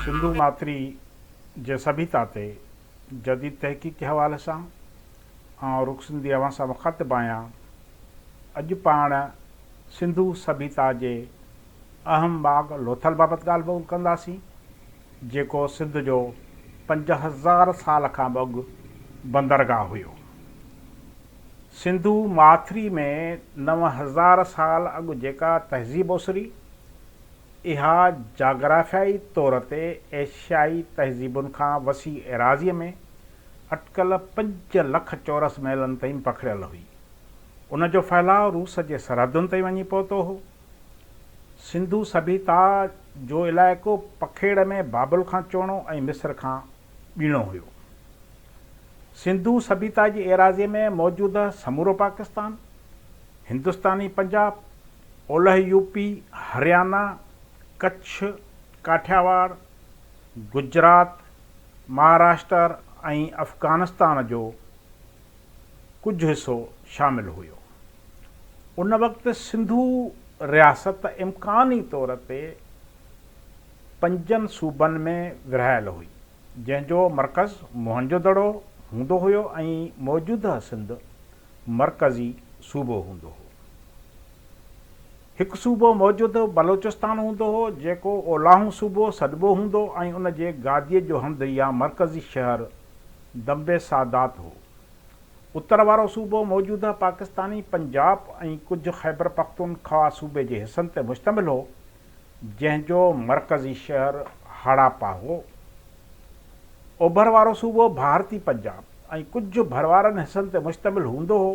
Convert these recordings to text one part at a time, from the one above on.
سنڌو ماٿري جي سڀيتا تي جديد تحقيقي حوالي سان آئون رخ سنڌي اوهان سان مخاطب آهيان. اڄ پاڻ سنڌو سڀيتا جي اهم ماڳ لوٿل بابت ڳالهه ٻولهه ڪنداسين، جيڪو سنڌ جو پنج هزار سال کان به اڳ بندرگاهه هيو. سنڌو ماٿري ۾ نو هزار سال اڳ جيڪا تهذيب اسري، اها جاگرافيائي طور تي ايشيائي تهذيبن کان وسيع ايراضيء ۾ اٽڪل پنج لک چورس ميلن تائين پکڙيل هئي. ان جو ڦهلاء روس جي سرحدن تائين وڃي پهتو هو. سنڌو سڀيتا جو علائقو پکيڙ ۾ بابل کان چوڻو ۽ مصر کان ٻيڻو هيو. سنڌو سڀيتا جي ايراضيء ۾ موجود سمورو پاڪستان، هندستاني پنجاب، اولهه يو پي، هريانا، ڪڇ، ڪاٺياواڙ، گجرات، مهاراشٽر ۽ افغانستان جو ڪجهه حصو شامل هيو. ان وقت سنڌو رياست امڪاني طور تي پنجن صوبن ۾ ورهايل هئي، جنهن جو مرڪز موهنجو دڙو هوندو هيو ۽ موجوده سنڌ مرڪزي صوبو هوندو هو. هڪ صوبو موجوده بلوچستان هوندو هو، جيڪو اولاهون صوبو سڏبو هوندو ۽ ان جي گاديء جو هنڌ يا مرڪزي شهر دمبي سادات هو. اتر وارو صوبو موجوده پاڪستاني پنجاب ۽ ڪجهه خيبرپختونخوا صوبي جي حصن تي مشتمل هو، جنهن جو مرڪزي شهر هڙاپا هو. اوڀر وارو صوبو ڀارتي پنجاب ۽ ڪجهه ڀروارن حصن تي مشتمل هوندو هو،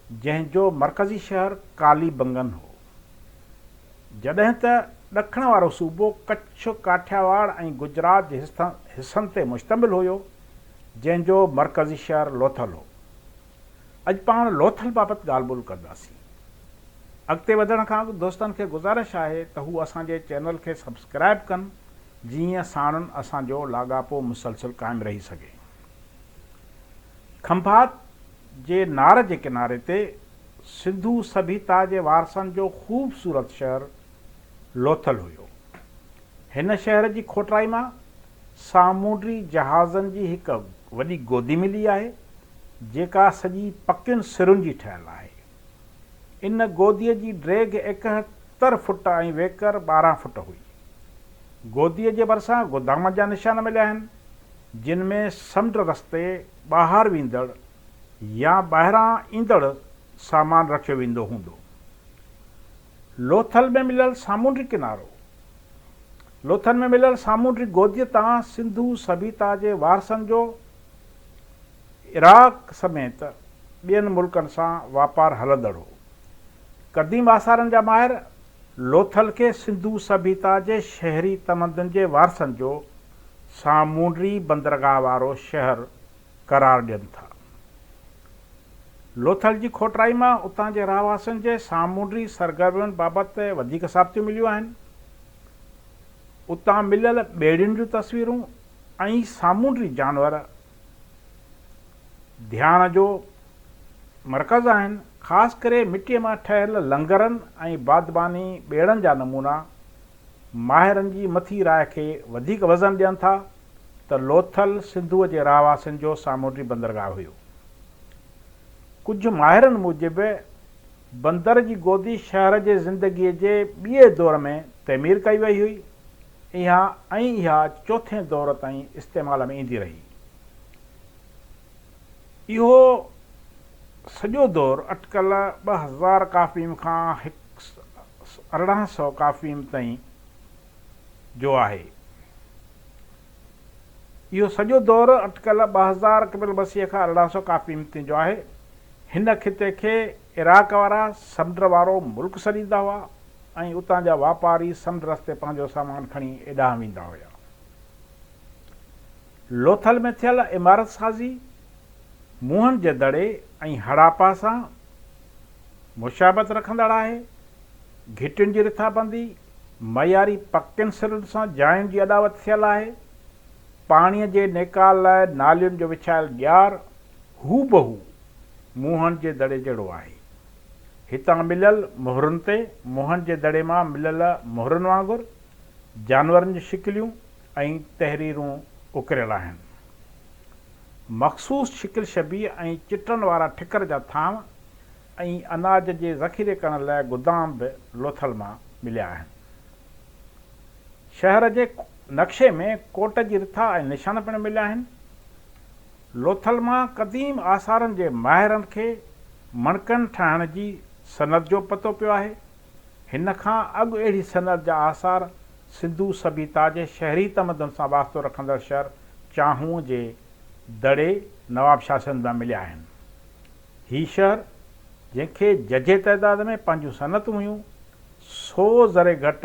جنهن جو مرڪزي شهر ڪالي بنگن هو. جڏهن ته ڏکڻ وارو صوبو ڪڇ، ڪاٺياواڙ ۽ گجرات جي حصن تي مشتمل هيو، جنهن جو مرڪزي شهر لوٿل هو. اڄ پاڻ لوٿل بابت ڳالهه ٻولهه ڪنداسين. اڳتي وڌڻ کان اڳ دوستن کي گذارش آهي ته هو اسان جي چينل کي سبسڪرائيب ڪن جيئن ساڻن اسان جو لاڳاپو مسلسل قائم رهي سگهي. کنڀات جي نار جي ڪناري تي سنڌو سڀيتا جي وارثن جو خوبصورت شهر لوٿل هيو. هن شهر جي کوٽرائي مان سامونڊي جهازن جي هڪ وڏي گودي ملي آهي. جيڪا سڄي پڪين سرن جي ٺهيل آهي. ان گوديء جي ڊيگهه ايڪهتر فوٽ ۽ ويڪر ٻارهن فوٽ هئي. گوديء جي ڀرسان گودامن جا نشان مليا آهن، جن ۾ سمنڊ رستي ٻاهر ويندڙ يا ٻاهران ايندڙ سامان رکيو ويندو هوندو. لوٿل ۾ مليل سامونڊي ڪنارو، لوٿل ۾ مليل سامونڊي گوديء تان سنڌو سڀيتا جي وارثن جو عراق سميت ٻين ملڪن سان واپار هلندڙ هو. قديم آثارن جا ماهر لوٿل کي سنڌو سڀيتا جي شهري تمدن جي وارثن جو سامونڊي بندرگاهه وارو شهر قرار ڏين ٿا. لوٿل جي کوٽرائي مان اتان جي رهواسين جي سامونڊي سرگرمين بابت وڌيڪ ثابتيون مليون آهن. اتان مليل ٻيڙين جون تصويرون ۽ سامونڊي جانور ڌيان جو مرڪز آهن، خاص ڪري مٽيء مان ٺهيل لنگرن ۽ بادباني ٻيڙن جا نمونا ماهرن جي مٿي راء کي وڌيڪ وزن ڏين ٿا ته لوٿل سنڌوء جي رهواسين جو سامونڊي بندرگاهه هيو. ڪجهه ماهرن موجب بندر جي گودي شهر جي زندگيء جي ٻئي دور ۾ تعمير ڪئي وئي هئي. اها ۽ اها چوٿين دور تائين استعمال ۾ ايندي رهي. اهو سڄو دور اٽڪل ٻه هزار ڪافيم کان ارڙهن سئو ڪافيم تائين جو آهي. اهو سڄو دور اٽڪل ٻه هزار قبل مسيح کان ارڙهن سئو ڪافيم تائين جو آهي. هن خطي کي عراق وارا سمنڊ وارو ملڪ سڏيندا هئا ۽ اتان جا واپاري سمنڊ رستي پنهنجو سامان کڻي ايڏانهن ويندا هيا. لوٿل ۾ ٿيل عمارت سازي موهن جي دڙي ۽ هڙاپا سان مشابهت رکندڙ آهي. گهٽين جي رٿابندي، معياري پڪين سرن سان جاين جي اڏاوت ٿيل آهي. پاڻيء جي نيڪال لاء نالين جو وڇايل ڄار هوبهو موهن جي دڙي جهڙو آهي. هتان مليل مهرن تي موهن جي دڙي مان مليل مهرن وانگر جانورن جون شڪليون ۽ تحريرون اڪريل آهن. مخصوص شڪل شبيهه ۽ چٽن وارا ٺڪر جا ٿانو ۽ اناج جي ذخيري ڪرڻ لاء گدام به لوٿل مان مليا آهن. شهر جي نقشي ۾ ڪوٽ جي رٿا ۽ نشان پڻ مليا آهن. لوٿل مان قديم آثارن جي ماهرن کي مڻڪن ٺاهڻ جي صنعت جو پتو پيو آهي. هن کان اڳ اهڙي صنعت جا آثار سنڌو سڀيتا جي شهري تمدن سان واسطو رکندڙ شهر چانهونء جي دڙي نوابشاهه سنڌ مان مليا آهن. هي شهر جنهن کي ججهي تعداد ۾ پنهنجون صنعتون هيون، سو ذري گهٽ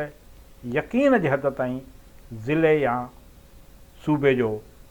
يقين جي حد تائين ضلعي يا صوبي جو